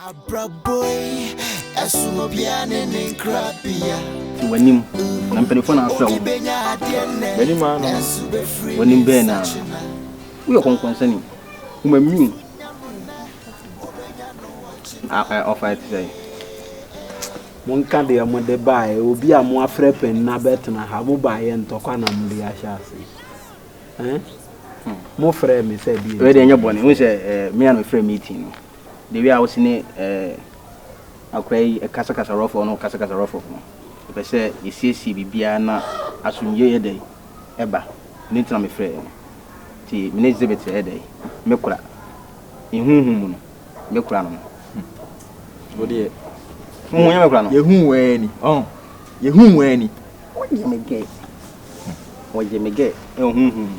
Abrabɔ yi ɛsono obiara ne ne nkrabea. To w'anim, na mpanimfoɔ na afrɛ wo. W'anim ara no no, w'anim bɛn no ara. Woyɛ ɔkɔnkɔnsani, wo ma mmiu. Ɔfa ɛte sɛ. Monka deɛ mode baeɛ, obi a moafrɛ pɛn na bɛtena ha, mobaeɛ ntɔkwa na mode ahyɛ ase. Eh? Hmm. Mofrɛ me sɛ deɛ. Wei deɛ nyɛ bɔne, wo sɛ eh, me a na mefrɛ meeting no. The way a wo se ne eh akora yi kasakasa rɔfɔɔ no kasakasa rɔfɔf no mepɛ sɛ yɛsiesie biribiara na asomdwoe yɛ dɛn ɛba ɛno nti na me frɛɛ no nti me ne Xzibit ɛyɛ dɛn me kora me huhu mu no me kora no no wo deɛ mo ho yɛ me kora no yɛhu wɛɛ ni ɔn yɛhu wɛɛ ni wɔyɛ me gɛ wɔyɛ me gɛ ɛwɔ huhu mu.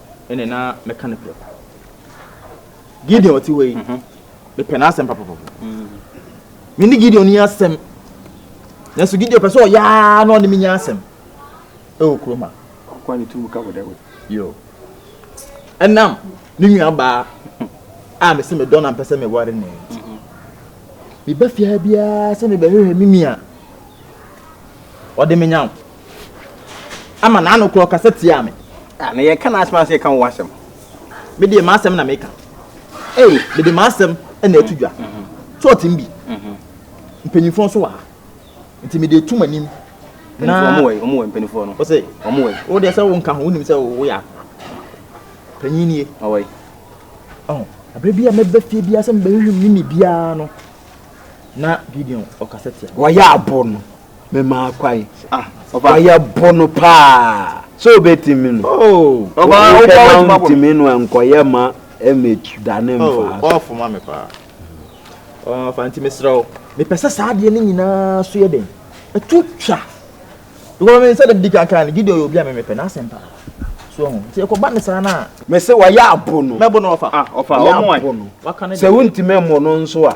ɛne na mɛka no prɛko gideon ɔte hɔ yi mhm. mepɛ n'asɛm papapapa mhm. me ne gideon ni asɛm nanso gideon pɛ sɛ ɔyaa na ɔne me nya asɛm ɛwɔ kurom a yo ɛnam ne nua baa a mese medɔ na mpɛ sɛ meware ne nti mhm. meba fiaa biara sɛ mebɛhwehwɛ me nua ɔde me nyaw ama n'ano kura ɔkasa tiaa me. Ah, na yɛnka n'asɛm ansa yɛka wo w'asɛm. Me deɛ m'asɛm na meka. Ei, mede m'asɛm na ɛto dwa. So ɔte mu bi? Mpanyinfoɔ nso wɔ ha. Nti mede etu m'anim. Na wɔn wɔ yi, wɔn wɔ yi mpanyinfoɔ no. Ɔsɛ. Wɔn wɔ yi. Wo deɛ sɛ wo nka ho, wonim sɛ wo yɛ akɔ. Panyin nie. Ɔwɔ yi. Ɔn, abere bi a mɛbɛ fie bi asɛm bɛyɛ hwim ne ne biara no. Na Gideon ɔkasa tia. Wɔyɛ abo no. memaa kwae ɔyɛ bono paa sɛ obɛtumi no oh, wobɛtumi no ɛnkɔyɛ ma ɛmɛdane mfaa fa nti mesrɛ wo mepɛ sɛ saa adeɛ no nyinaa so yɛ den ɛto twa because me sɛ dadi kankan no gideon yɛ obi a memepɛ n'asɛm paa so ho nti ɛkɔba ne saa no a me sɛ wayɛ abo no mɛbo no ɔfa ɔfa ɔmo ɛ sɛ wontumi mmɔ no nso a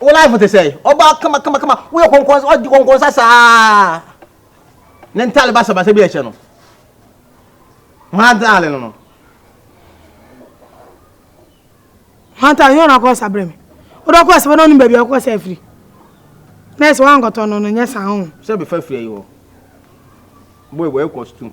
Wo life te sɛn? Ɔbaa kama kama kama, woyɛ kɔnkɔnsa, ɔdi kɔnkɔnsa saa. Ne ntaale basabasa bi ɛhyɛ no. Mantaale no no. Mantaale yɛn na akɔ sa brɛ me. Wode ɔkɔ sa bɛna ɔnim baabi a ɔkɔ sa afiri. Na ɛsɛ wankɔtɔ no no nyɛ saa ho. Sɛ bɛfa firi ayi hɔ. Boy boy ɛkɔ stum.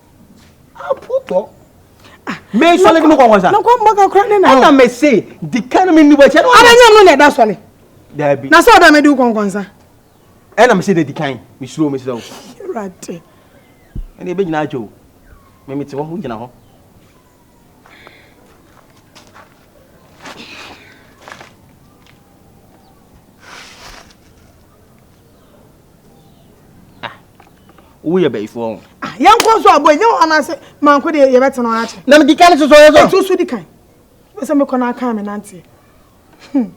apotɔ mesɔle de mekɔ nkɔsa ɛna mese di ka no menni bɔkyɛ abɛnyam no na ɛda sɔle daabi na sɛ ɔda mede wo kɔnkɔnsa ɛna mese de di kan mesuro mesrɛ wo awurade ɛne ɛbɛgyina atwa o memete hɔ wogyina hɔ ah wo yɛ bayifoɔ ho ah yɛn kɔn so abɔ nyɛ wɔn ase manko deɛ yɛ bɛ tena wɔn akyɛ na mi di kan soso yɛ so ɛtu so di kan bɛ sɛ mi kɔ na aka mi nante hmm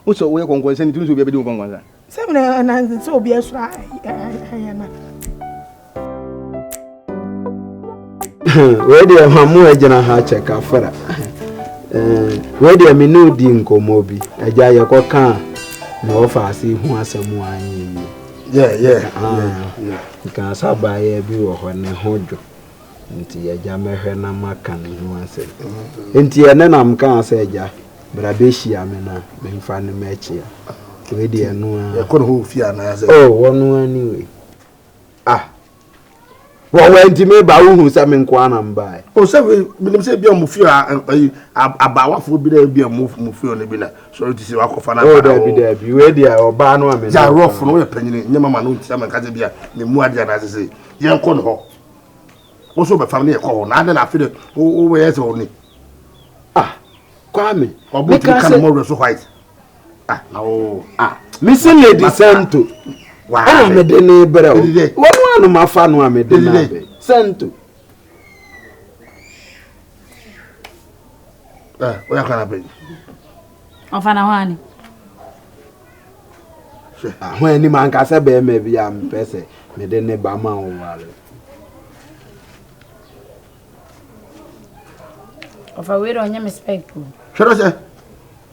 wosɔ wo yɛ kɔnkɔn sɛ ni tumi sɛ obi abɛdi wo kɔnkɔn sa sɛ mi na ɛnante sɛ obi asura ɛyɛ na. wei deɛ ma mo agyina ha kyɛ kafra eh, wei deɛ me ne odi nkɔmmɔ bi agya yɛkɔka a na wɔfa ase ho asɛm a anyinyi nka sɛ abaayɛ bi wɔ hɔ ne ho dwo nti agya mɛhwɛ na maka ne ho asɛm mm-hmm. nti ɛne nam kaa sɛ agya bra bɛhyia me no a memfa no mɛkyea wei deɛ no a wɔno ani wei ah wɔ wɔ nti mi ba wohu sɛ mi nko ara na mba yɛ. o sɛ menim sɛ ebi a mo fi ayi abaawafoɔ bi na ebi a mo mo fi ɔno bi na sɔrɔ ti sɛ wakɔfa na. o dɛbi dɛbi wei di a ɔbaa no a mi na. gya rɔfo no yɛ panyini nyɛ mama no nti ama nka sɛ bi a mi mu adi anaa sɛ sɛ yɛn kɔ no hɔ woso bɛfam ne yɛ kɔ hɔ na adɛ na afi dɛ wo wo yɛ sɛ ɔni. ah kwame ɔbɔ ti ka ne mɔwurɛ so white. Ah, oh, ah. Missy Lady Santo. Ana me de ne brɛ o. Wɔn a no ma fa no a me de na bɛ. Santo. Eh, o ya kana bɛ. Ɔfa na hɔn ani. Ahɔn ani ma nkasa bɛrima bi a mpɛ sɛ me de ne ba ma o wale. Ɔfa wei de ɔnyɛ me spɛk o. Hwɛ dɔ sɛ.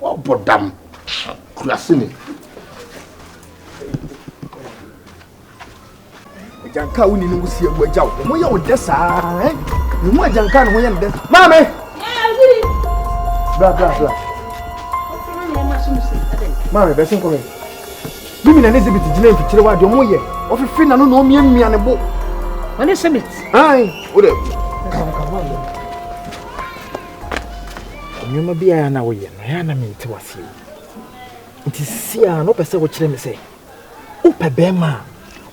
Wɔbɔ dam kurase mu. Agyanka a wonni no wusi awu agya wo. Ho yɛ wo dɛ saa. Ne ho agyanka ne ho yɛ ne dɛ. Maame! Bra bra bra. Maame bɛsi nkɔ hɛ. Ne mina ne zibiti gyina mfikyire wa deɛ ɔmo yɛ. Ɔfefe n'ano na ɔmia mmia ne bo. Ɔne sebit. Ayi. Wo dɛ. Kawo kawo. Nneɛma bi a na woyɛ no, ɛyɛ a na mente wo aseɛ o. Nti sisi a na wopɛ sɛ wokyerɛ me sɛ wopɛ bɛrima a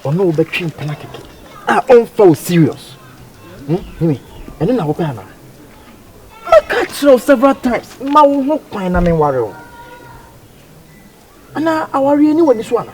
ɔne wo bɛtwe mpena kɛkɛ a ɔmfa wo serious. Hmm? Himi, ɛno na wopɛ anaa? Maka kyerɛ wo several times ma wo ho kwan na menware wo. Anaa awareɛ ni w'ani so anaa?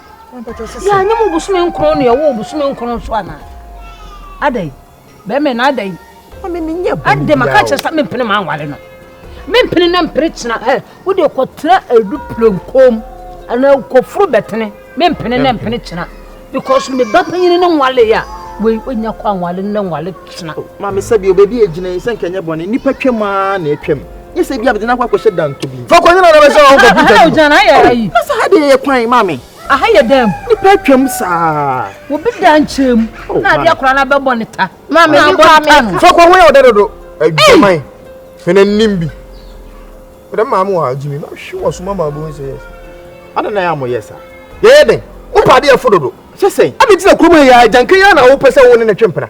yɛanyɛ mu bosome nkron na yɛwɔ bosome nkron nso anaa adɛn bɛrima na adɛn adɛn maka kyerɛ sɛ mempene ma anware no mempene na mpere kyena ɛ wode kɔtena adu plenkom anaa kɔforo bɛtene mempene na mpene kyena because me ba panyini ne nwale a wei wonya kɔ anwale ne nwale kyena maame sɛ bio baabi agyina yi sɛ nkɛnyɛ bɔne nnipa twam a na atwam Nye sɛ ebi abɛdze n'akɔ akɔhyɛ dantɔ bi. Fa kɔnyina na bɛsɛ ɔwɔ kɔmputa bi. Aha ogyina na ayɛ ayi. Na sɛ ha deɛ yɛ kwan maame. Aha yɛ dɛm. Nipa atwam saa. Obi da nkyɛn mu oh, na adeɛ akora no abɛbɔ ne ta. Maame ne kɔ ameka. Fa kɔ ho yɛ ɔdɛ dodo. Adwaman. Fɛnɛ nim bi. Fɛnɛ maame wɔ ha gyimi. Mahwe wɔ so ma ma abɛhu sɛ yɛ sa. Ada na yɛ a moyɛ sa. Yɛyɛ dɛn? Wopa adeɛ fo dodo. Sɛ sɛn. Ade ti na kurom yɛ agyanka yi na wopɛ sɛ wo ne ne twe mpena.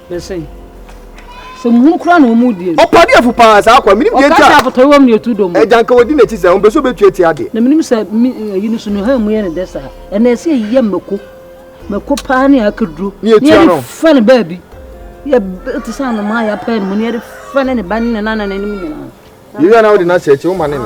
Bɛsɛn. Sɛ muhunu koraa na wɔn die no. Ɔpɔ adeɛfo paa saa akoa menim deɛ nti a. Ɔka sɛ afotɔre wɔ mu na etu dɔm. Agya nka wɔdi n'akyi saa ɔmpɛ sɛ ɔbɛtu atia adeɛ. Na menim sɛ me ayi no so no hann mu yɛ no dɛ saa ɛna ɛsɛ yɛyɛ mako mako paa ne akaduro ne yɛde fa no baabi yɛ te sɛ anomaa yɛ apɛ no mu ne yɛde fa ne ne ba ne ne nana ne ne mu nyinaa. Yɛyɛ ana wode no ahyɛ akyi woma ne no.